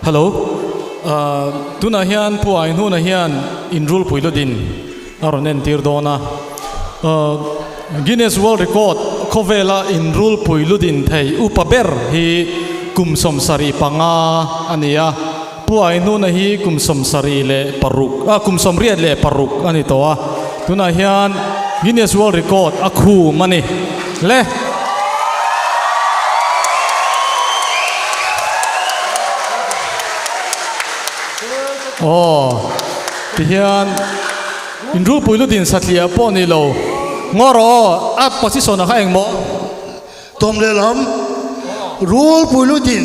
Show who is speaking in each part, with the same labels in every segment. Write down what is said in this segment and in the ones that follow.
Speaker 1: Hello, aah tunah hian Puain hunah hian inrulpui lutin a rawn entir dawn a, aah Guinness World Record khawvela inrulpui lutin thei upa ber hi kum sawmsarih panga a ni a, Puain huna hi kum sawmsarih leh paruk ah kum sawmriat leh paruk a ni tawh a, tunah hian Guinness World Record a khum a ni. hle. Aw tihian inrulpui lutin satliah pawh ni lo ngawr aw a position a kha engmawh. Tawm leh lam rulpui lutin.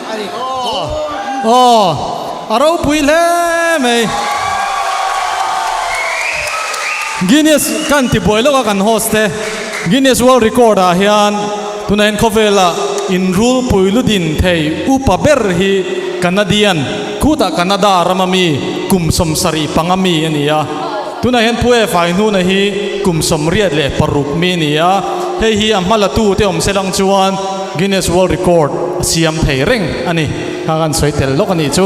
Speaker 1: Aww aww a ropui hle mai Guinness kan ti buai lawk a kan host te Guinness world record ah hian tunah in khawvel ah in rul pui lu din thei upa ber hi Canadian khut ah Canada ram ami kum sawm sarih pang ami ania. Tunah hian Pu E fai hnuna hi kum sawmriat leh paruk mi ni a, hei hi a hma la tu te awm se lang chuan Guinness World Record a siam thei reng a ni. Kha kan sawi tel lawk a nih chu.